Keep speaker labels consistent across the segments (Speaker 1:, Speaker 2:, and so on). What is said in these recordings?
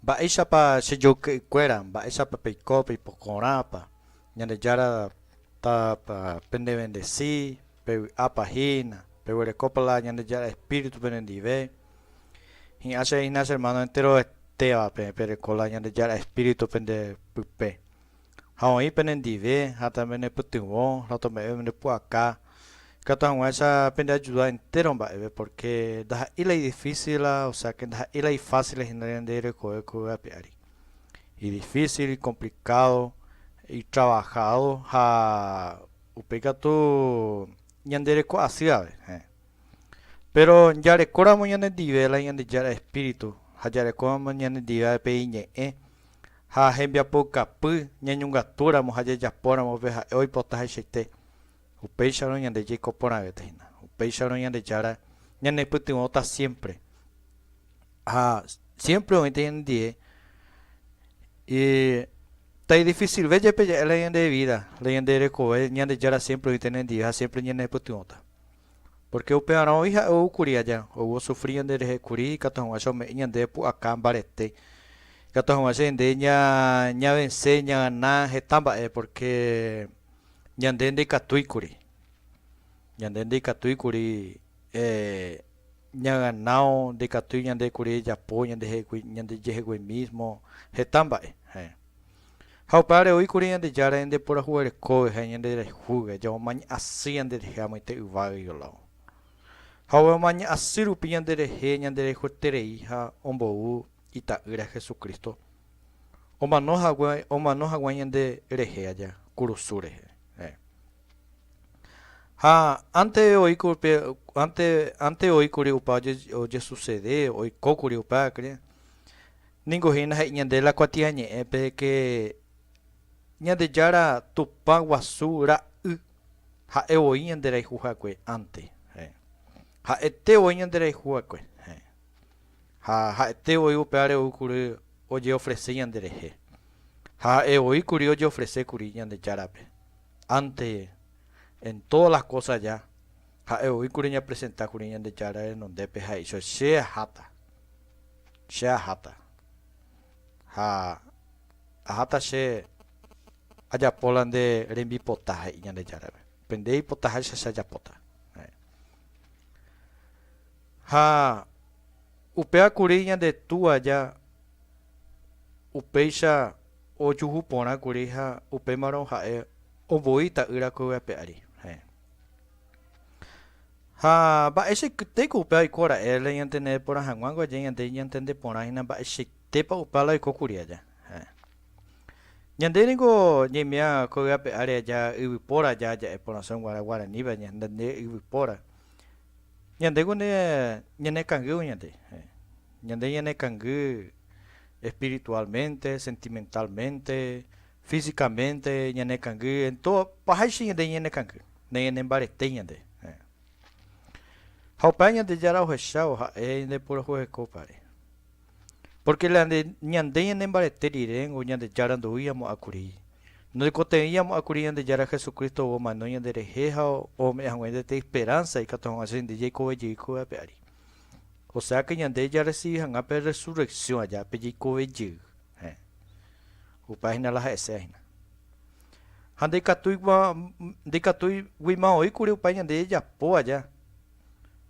Speaker 1: Mba'éichapa che joyke'ykuéra, mba'éichapa peiko peipokorãpa, Ñandejára tápa pendevendesi, pevy'ápa hína, peguerekópa la Ñandejára Espíritu penendive. Hi'ã che hína che hermano enteroetévape pereko la Ñandejára Espíritu pende pype. ha oĩ penendive ha también nepytyvõ ha otome'ẽve nde pu'aka, ikatu hag̃uáicha pende ajuda entéro mba'eve, porque ndaha'éi la idifísil, o sea que ndaha'éi la ifácil hína ñande rekove ko yvy ape ári. Idifícil, ikomplicado, itravahádo ha upéi katu ñande reko asývare. Héẽ. Péro jarekóramo ñanendive la Ñandejára espíritu ha jarekóramo ñanendive pe Iñe'ẽ, ha hembiapoukapy ñañongatúramo ha jajapóramo pe ha'e oipota hechaite, upéicharõ ñande jaiko porãvéta hína, upéicharõ Ñandejára ñanepytyvõta siémpre, ha siémpre oĩta ñandendie taidifisilve jepe ja'e la ñande vída, la ñande rekove, Ñandejára siémpre oĩta ñanendive ha siémpre ñanepytyvõta. Pórke upevarã voi ha'e ou kuri aja, ou osufri ñanderehe kuri, ikatu hag̃ua che ome'ẽ ñandéve pu'aka mbarete, ikatu hag̃ua che rende ñavense, ñagana heta mba'e, pórke ñande ndaikatúi kuri. Ñande ndaikatúi kuri ñaganao, ndaikatúi ñande kuri ejapo ñande jehegui, ñande jehegui mísmo, heta mba'e. Ha upévare oĩ kuri Ñandejára ñande purahuverekógui ha ñande rayhúgui, jamomaña asy ñande rehe amoite yvágagui olávo. Ha ovemomaña asy rupi ñande rehe ñande rayhueterei ha ombou Ita'ýra Jesucristo omano hague, omano haguã ñande rehe aja kurusu rehe. Eh. Ha ánte oĩ kuri pe, ánte, ánte oĩ kuri upa oje, ojesucede, oiko kuri upéva kuri, Ningo hína he'i ñande la kuatiañe'ẽpe de ke Ñandejára Tupã guasu ra'y ha'e voi ñande rayhu hague ánte. Heẽ. Ha'ete voi ñande rayhu hague. Heẽ. Ha ha'ete voi upévare ou kuri ojeofrese ñande rehe. Ha ha'e voi kuri ojeofrese kuri Ñandejárape. Ánte en todas las cosas ya, ha'e voi kuri ñapresenta kuri Ñandejára renondépe ha he'ícha, Che aháta. Che aháta. Ha aháta che ajapo la nde rembipota, he'i Ñandejárape. Pende ipota háicha che ajapóta. Ha upéva kuri ñande Túa aja upéicha ojuhu porã kuri ha upémarõ ha'e ombo'i ta'ýra ko'yguape ári. Ha mba'eichaitéiko upéva oiko ra'e la iñantende porã hag̃uángo aja ñande iñantende porã hína mba'eichaitépa upa la oikókuri aja. Heẽ. Ñande ningo ñaimía ko yvápe ári aja yvypóra aja aja'e porãsõ guarã guaraníva ñande yvypóra. Ñandéko nde ñanekangývo ñande. Heẽ. Ñande ñanekangý espiritualmente, sentimentalmente, Físicamente ñanekangy en todo, pahaicha ñande ñanekangy, nañanembaretéi ñande. Ha upéva Ñandejára ohechávo ha'e ñande purajuehekópare. Pórke la nde ñande ñanembarete riréngo Ñandejára ndoúi amo'ã kuri. Ndoikotevẽi amo'ã kuri Ñandejára Jesucristo omano ñanderehe ha ome'ẽ haguénte pe esperánsa ikatu hag̃ua che rende jaikove jey ko vy'ápe ári. Osea ke ñande jarresivi hag̃ua pe rresurreksión aja pe jeikove jey. Upe hína la ha'ese hína. Ha ndaikatúiguima oĩ kuri upe ñande jejapo aja,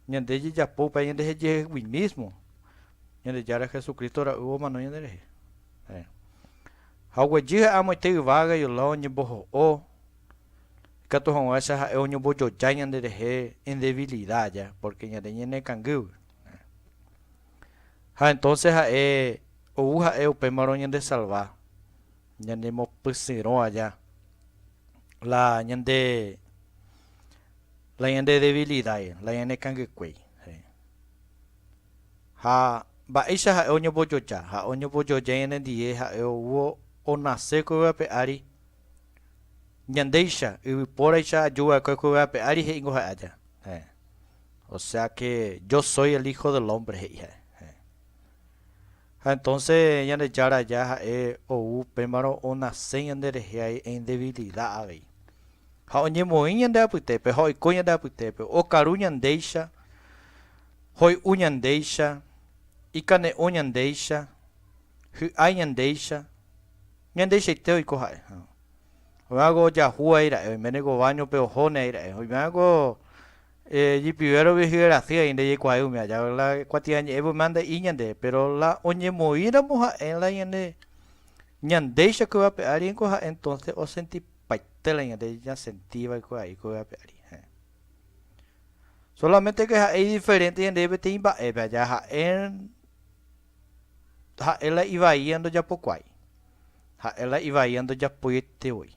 Speaker 1: ñande jejapo upe ñande hejehegui mísmo, Ñandejára Jesucristo ra'y omano ñande rehe. Ha oguejy ha'e amoite yvága yla oñemboho'o, ikatu hag̃uáicha ha'e oñombojoja ñande rehe en debilidad aja, pórke ñande ñanekangýgui. Ha entonce ha'e ou ha'e upémarõ ñande salva, ñane mopysyrõ aja la ñande la ñande debilidad, la ñane kangykuéi. Ha mba'éicha ha'e oñombojoja? Ha'e oñombojoja ñanendie ha'e ou o nace ko yva pe ári ñandéicha, yvypóraicha ajuva'ekue ko yva pe ári he'ingo ha'e aja. Osea ke, Jo sói el Hijo del Hombre, he'i ha'e. Ha entónse Ñandejára aja ha'e ou upémarõ onase ñanderehe en devilida avei. Ha oñemoĩ ñande apytépe ha oiko ñande apytépe, okaru ñandéicha, hoy'u ñandéicha, ikane'õ ñandéicha, hy'ái ñandéicha, ñandeichaite oiko ha'e. Oĩva'ekue ojahu aira'e, oiméne ko váñope ohóne aira'e, oiméva'ekue Ijipivérõ vyhy erasy aĩ ndejeikuaái umi aja la kuatiañe'ẽ voi mande'i ñande, péro la oñemoĩramo ha'e la ñande ñandéicha ko yvápe ári ningo ha'e entónse osentipaite la ñande ñasenti va'ekuaái ko yvápe ári. Héẽ. Sólamente ke ha'e idiferénte ñandéve peteĩ mba'épe aja ha'e. Ha'e la ivaíva ndojapokuaái, ha'e la ivaíva ndojapóiete voi.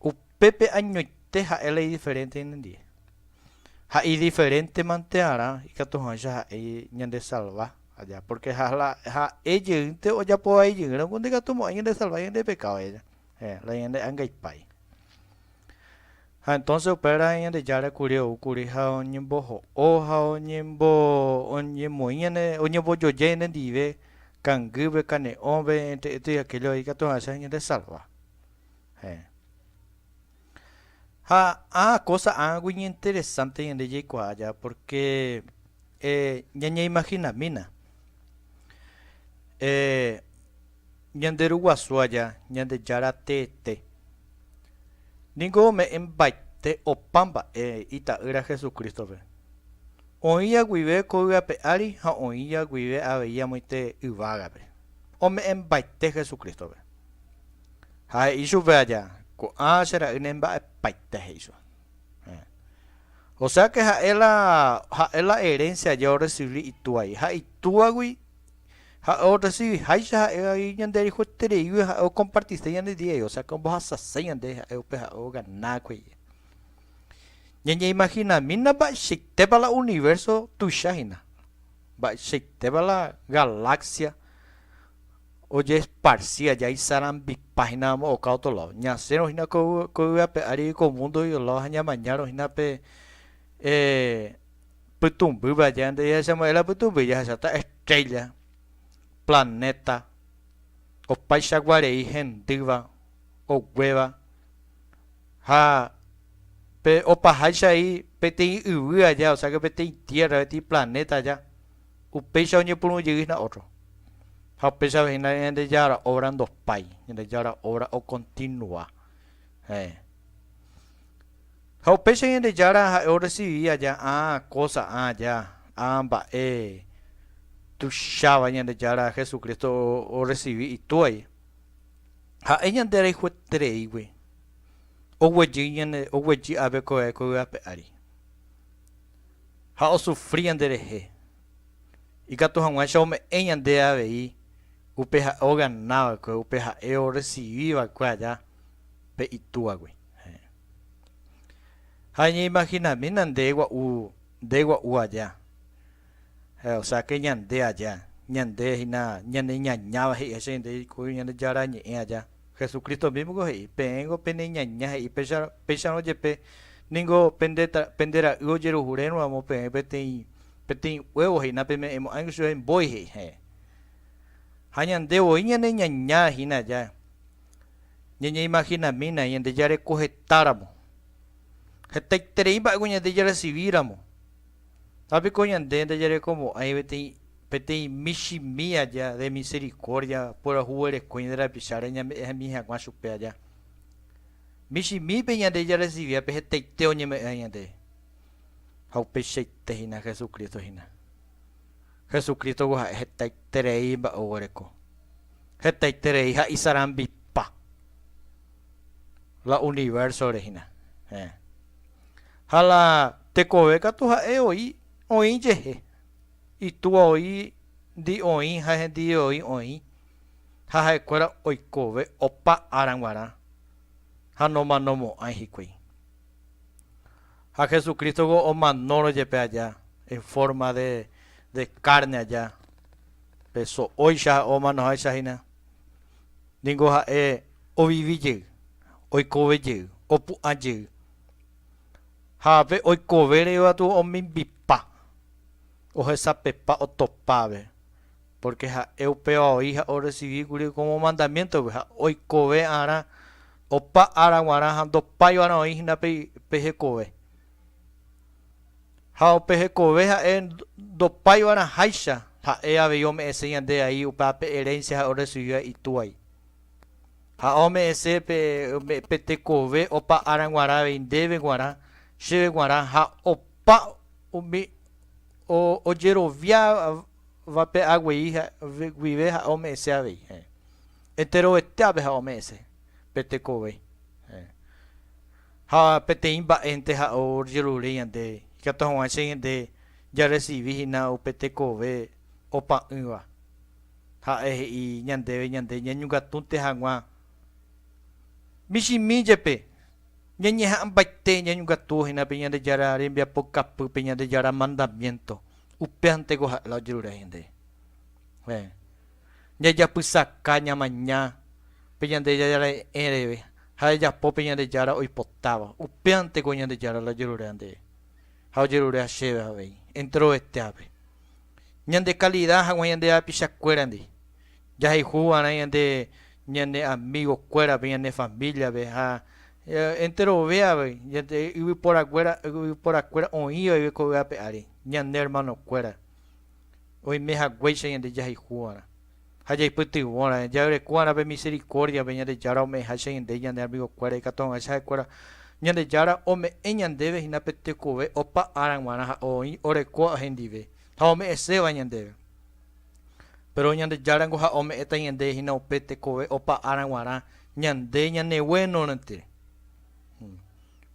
Speaker 1: Upépe añoite ha'e la idiferénte ñanendie. Ha idiferéntemante'arã ikatuháicha ha'e ñandesalva aja, pórke ha'e jeýnte ojapo vai jeýramo ko ndekatumo'ãi ñandesalva ñande pekádo aja, héẽ, la ñande'angaipái. Ha entonce upévare Ñandejára kuri oúkuri ha oñemboho'o ha oñembo, oñemoĩ ñane, oñembojoja ñande ndive kangýpe, kane'õpe, entre esto y aquello ikatu hag̃uáicha ñande salva. Heẽ. Ha ã cosa ãgui ñeinteresante ñande jaikuaa aja, porque eh, ñañeimaginamína. Eh, Ñande Ru Guasu aja, Ñandejára teete, ningo ome'ẽmbaite opa mba'e Ita'ýra Jesucristo-pe. Oĩja guive ko yvape ári ha oĩja guive avei amoite yvágape, ome'ẽmbaite Jesucristo-pe. Ha he'i chupe aja, Ko'ã che ra'y ne mba'epaite, he'i chupe. Héẽ. O sea que ha'e la, ha'e la herencia aja orrecibi itúai, ha itúagui ha orresivi háicha ha'évagui ñande rejuetereígui ha'e okompartise ñande diégue, osea que ombohasase ñande ha'e upe ha'e oganákue. Ñañeimahinamína mba'eichaitépa la universo tuicha hína, mba'eichaitépa la galaxia ojeesparsi aja isarambipa hína amo oka otro lado. Ñasẽrõ hína ko yvy ape ári ko mundo iolado ha ñamañárõ hína pe Pytũmby vaja nde jahechamo'e la pytũmby jahecháta estrélla, planéta, opaicha guarei hendýva, oguéva, ha pe opaháicha he'i peteĩ yvy aja, o sea que peteĩ tierra, peteĩ planéta aja, upéicha oñepyrũ jey hína ótro. Ha upéichave hína Ñandejára óvra ndopái, Ñandejára óvra okontinua. Heẽ. Ha upéicha Ñandejára ha'e orresivi aja ã kósa, ã aja, ã mba'e tuicháva Ñandejára Jesucristo orresivi Itúai. Ha'e ñande rayhuetereígui oguejy ñande, oguejy a vekove ko yvápe ári, ha osufri ñanderehe, ikatu hag̃uáicha ome'ẽ ñande avei upe ha'e ogana va'ekue, upe ha'e orresivi va'ekue aja pe Itúagui. Ha ñeimaginamína nde gua'u, nde gua'u aja. O sea que ñande aja, ñande hína ñaneñañáva he'i Jesús ñande jaiko Ñandejára Ñe'ẽ aja. Jesucristo mismo niko he'i, Peẽngo peneñaña he'i, péicharõ jepe ningo pende ra'y ojeruhurérõ ramo peẽ peteĩ, peteĩ huevo he'i, napeme'ẽmo'ãingo chupe mbói he'i. Ha ñande voi ñaneñañáva hína aja. Ñañeimahinamína ñande jareko hetáramo, hetaiterei mba'égui ñande jaresivíramo. Ha piko ñande ndajarekomo'ãi peteĩ michĩmi aja de miserikórdia purahuguereko ñande rapicháre ñame'ẽ hemi hag̃ua chupe aja. Michĩmípe ñande jaresiviápe hetaite oñeme'ẽ ñandéve. Ha upeichaite hína Jesucristo hína. Jesucristo-gua ha'e hetaiterei mba'e oguereko, hetaiterei ha isarambipa la universo-re hína. Héẽ. Ha la tekove katu ha'e oĩ, oĩ jehe. Itúa oĩ ndi oĩ ha hendivve oĩ oĩ. Ha ha'ekuéra oikove opa ára g̃uarã ha nomanomo'ãi hikuái. Ha Jesucrístogo omanórõ jepe aja en forma de, de carne aja, pe so'óicha ha omanoháicha hína, ningo Ha'e ovivi jey, oikove jey, opu'ã jey. Ha pe oikove reíva tu omimbipa, ohesapepa otopave. Pórke ha'e upéva oĩ ha orresivi kuri kómo mandamiéntope ha oikove'arã opa ára g̃uarã ha ndopáiva'erã oĩ hína pe hekove. Ha upe hekove ha'e ndopáiva'erã háicha, ha'e avei ome'ẽse ñande ai upéva pe erénsia ha'e orresivíva Itúai. Ha ome'ẽse pe tekove opa ára g̃uarã avei ndéve g̃uarã, chéve g̃uarã ha opa umi ojerovia va pe a guei guive ha'e ome'ẽse avei, heẽ. Enterovetéape ha'e ome'ẽse, pe tekove, heẽ. Ha peteĩ mba'énte ha'e ojerure ñande, ikatu hag̃uáicha ñande jarresivi hína upe tekove opa'ỹva. Ha'e he'i ñandéve ñande ñañongatu'nte hag̃ua michĩmi jepe, ñañeha'ãmbaite ñañongatúvo hína pe Ñandejára rembiapokapýpe, Ñandejára mandamiénto. Upéanteko ha'e la ojerure hína nde. Jajapysaka ñamaña pe Ñandejára re'ẽreve ha jajapo pe Ñandejára oipotáva. Upéanteko Ñandejára la ojerure nde ha ojerure chéve avei, enterovetéape, ñande kalida hag̃ua ñande rapichakuérandi. Jahayhu va'erã ñande ñane amigo kuérape, ñane familia-pe ha enterove avei ñande yvypóra kuéra, yvypóra kuéra oĩ vaive ko yvápe ári, ñane hermano kuéra oime haguéicha ñande jahayhu va'erã ha jaipytyvõra, ja'yreko va'erã pe misericordia-pe Ñandejára ome'ẽháicha ñande ñane amigo kuéra, ikatu hag̃uáicha ha'e kuéra Ñandejára ome'ẽ ñandéve hína pe tekove opa ára g̃uarã ha oĩ orekóva hendive ha ome'ẽséva ñandéve. Péro Ñandejára ngo ha ome'ẽta ñande hína upe tekove opa ára g̃uarã ñande ñaneguenoirõete.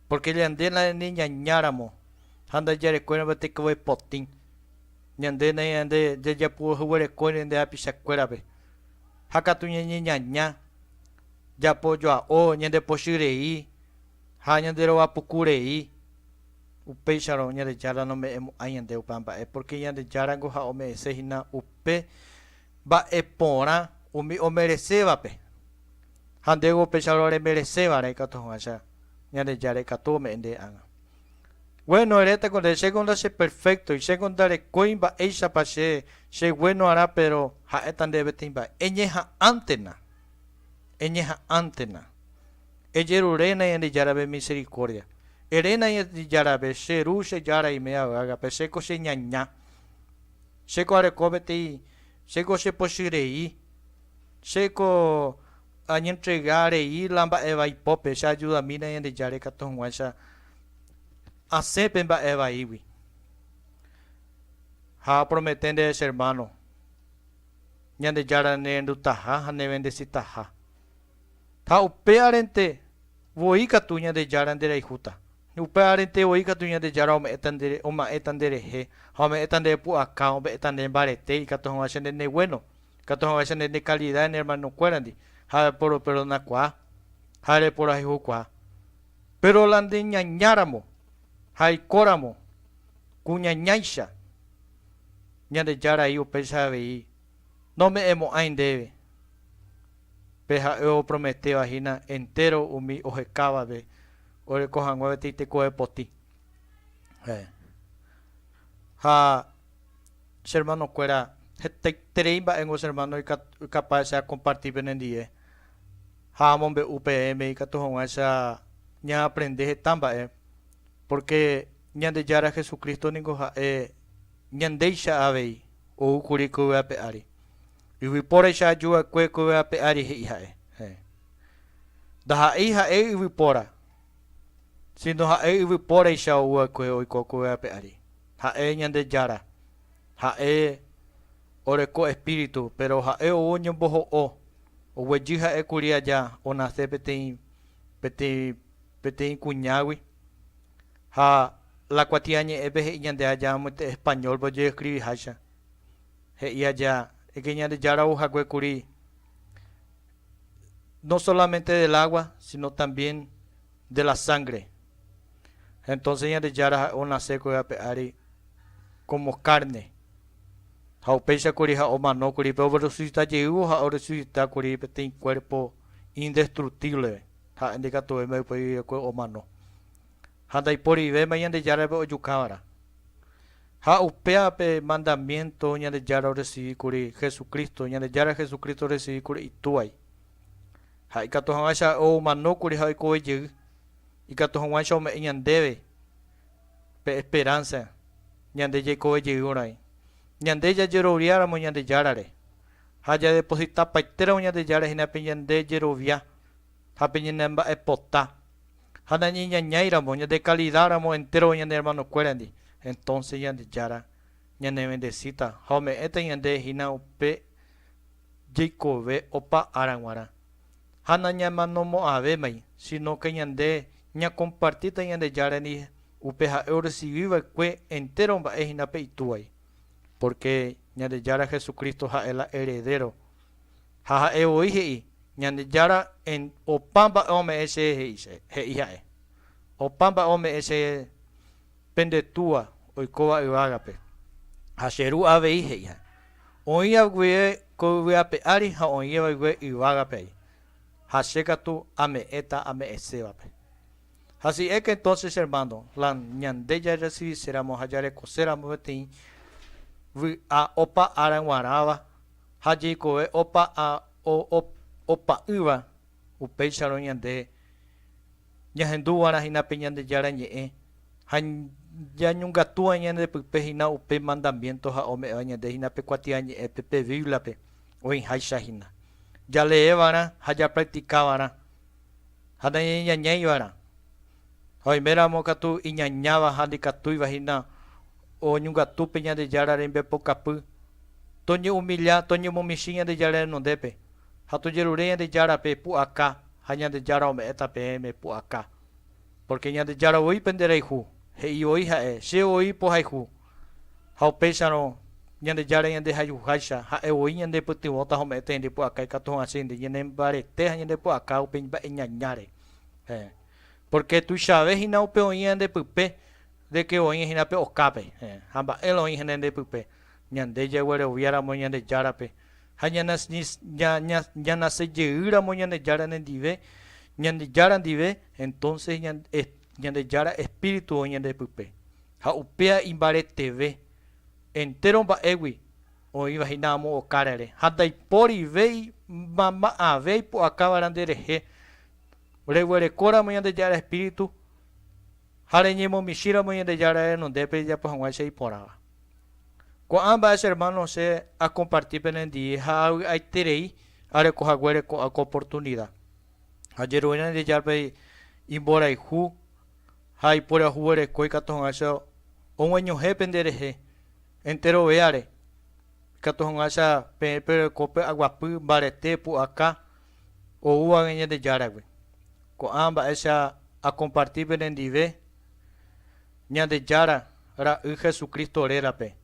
Speaker 1: Pórke ñande nañande ñañáramo ha ndajarekuéiramo tekove potĩ, ñande nañande jajapu'ahyguerekóirõ nde hapichakuérape ha katu ñañeñaña, japojoa'o, ñandepochy rei ha ñanderova puku rei. Upéicharõ Ñandejára nome'ẽmo'ãi ñande opa mba'e, pórke Ñandejárako ha ome'ẽse hína upe mba'e porã umi omeresévape. Ha ndéve upéicharõ remereséva'erã ikatu hag̃uáicha Ñandejára ikatu ome'ẽ nde ág̃a. Gueno, erétako nde, chéko ndacheperféktoi, chéko ndarekói mba'éichapa che chegueno'arã, péro ha'éta nde peteĩ mba'e, eñeha'ãntena, eñeha'ãntena. Ejeruréna Ñandejárape misericórdia. Eréna Ñandejárape, che Ru, che Jára iméva yvágape, che ko che ñaña. Che ko areko peteĩ, che ko chepochy rei, che ko añentrega rei la mba'evai pópe, che ajudamína Ñandejára ikatu hag̃uáicha asẽ pe mba'e vaígui. Ha apromete ndéve che hermano, Ñandejára nerendutaha ha nevendesitaha. Ha upe arente voi katu Ñandejára nderayhúta, upe arente voi katu Ñandejára ome'ẽta ndere, oma'ẽta nderehe, ha ome'ẽta nde pu'aka, ome'ẽta nde mbarete, ikatu hag̃ua che nde ne guéno, ikatu hag̃ua che nde ne kalida ne ermanokuérandi, ha reporoperdonakuaa, ha reporayhukuaa. Péro la nde ñañáramo ha aikóramo ku ñañáicha, Ñandejára he'i upéicha avei, Nome'ẽmo'ãi ndéve. Pe ha'e oprometéva hína entéro umi ohekávare oreko hag̃ua peteĩ tekove potĩ. Ha che ermanokuéra, hetaiterei mba'éngo che ermáno ikapáva che akomparti penendive ha amombe'u peẽme ikatu hag̃uáicha ñaaprende heta mba'e, pórke Ñandejára Jesucristo ningo ha'e ñandéicha avei ou kuri ko yvy ape ári. Yvypóraicha aju va'ekue kue ape ári he'i ha'e. Héẽ. Ndaha'éi ha'e yvypóra, síno ha'e yvypóraicha ou va'ekue oiko kue ape ári. Ha'e Ñandejára, ha'e oreko espíritu, péro ha'e ou oñomboho'o, oguejy ha'e kuri aja onase peteĩ, peteĩ, peteĩ kuñágui. Ha La Kuatiañe'ẽpe he'i ñande aja amoite españólpe oje'eskriviháicha. He'i aja, egue Ñandejára ouhague kuri no solamente del agua, sino también de la sangre. Entonces Ñandejára ha'e onasékuri ape ári como carne. Ha upéicha kuri ha omanókuri, pe oresucita jeývo ha oresucita kuri peteĩ cuerpo indestructíblepe, ha'e ndikatuvéima ypy yvy'ekue omano. ha ndaiporivéma Ñandejárape ojukáva'erã. Ha upéva pe mandamiénto Ñandejára oresivi kuri Jesucristo, Ñandejára Jesucristo oresivi kuri Itúvai. Ha ikatu hag̃uáicha omano kuri ha oikove jey, ikatu hag̃uáicha ome'ẽ ñandéve pe esperánsa ñande jaikove jeýrõ-rãi, ñande jajeroviáramo Ñandejárare ha jadepositapaitéramo Ñandejára hína pe ñande jerovia ha pe ñanemba'epota. ha nañeñañáiramo ñandekalidáramo entéro ñane ermanokuérendi, entónse Ñandejára ñanevendesíta ha ome'ẽta ñande hína upe jeikove opa ára g̃uarã. Ha nañamanomo'ãvémai, sínóke ñande ñakompartíta Ñandejárendi upe ha'e orresivi va'ekue entéro mba'e hína pe Itúvai. Pórke Ñandejára Jesucristo ha'e la heredéro Ha ha'e voi he'i, Ñandejára, opa mba'e ome'ẽ che he'i che, he'i ha'e. Opa mba'e ome'ẽ che pende túa oikóva yvágape. Ha che ru avei, he'i ha'e. Oĩva guive ko yvy ape ári ha oĩva guive yvágape ai, ha che katu ame'ẽta ame'ẽsévape. Hasi'éke entonces, che hermano, la ñande jarresiviséramo ha jarekoséramo peteĩ vy'a opa ára g̃uarãva, Ha jeikove opa ha opa'ỹva, upéicharõ ñande ñahendúva'erã hína pe Ñandejára Ñe'ẽ ha ñañongatúva ñandepype hína upe mandamiénto ha ome'ẽva ñande hína pe kuatiañe'ẽpe pe Bíbliape oĩháicha hína. Jaleeva'erã ha japraktikava'erã ha nañañañaiva'erã. Ha oiméramo katu iñañáva ha ndikatúiva hína oñongatu pe Ñandejára rembipokapy, toñe'umilla, toñemomichĩ Ñandejára renondépe, ha tojerure Ñandejárape pu'aka, ha Ñandejára ome'ẽta peẽme pu'aka. Pórke Ñandejára voi pende rayhu, he'i voi ha'e, Che voi pohayhu. Ha upéicharõ, Ñandejára ñandehayhuháicha, ha'e voi ñandepytyvõta ha ome'ẽta ñande pu'aka ikatu hag̃ua che rende ñanembarete ha ñandepu'aka upe mba'eñañáre. Pórke tuichave hína upe oĩ ñande pype de ke oĩ hína pe okápe, ha mba'érõ oĩ hína ñande pype, ñande jagueroviáramo Ñandejárape ha ñanasejeýramo Ñandejára nendive, Ñandejára ndive, entónse Ñandejára espíritu oĩ ñande pype. Ha upéva imbareteve, entéro mba'égui, oĩva hína amo okárare, ha ndaipórivéima ma'ãve ipu'akáva'erã nderehe. Reguerekóramo Ñandejára espíritu ha reñemomichĩramo Ñandejára renondépe rejapo hag̃ua che iporãva. Ko'ã mba'e che hermano che akomparti penendie ha avy'aiterei areko haguére ko'ã ko oportunida. Ajeruréna Ñandejárpe imborayhu ha ipurahuvereko ikatu hag̃ua che ogueñohẽ penderehe enterovéare, ikatu hag̃ua che peẽ pereko py'aguapy, mbarete, pu'aka, oúvague Ñandejáragui. Ko'ã mba'éicha akomparti penendive Ñandejára Ra'y Jesucristo rérape.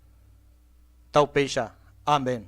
Speaker 1: Taupéicha. Amén.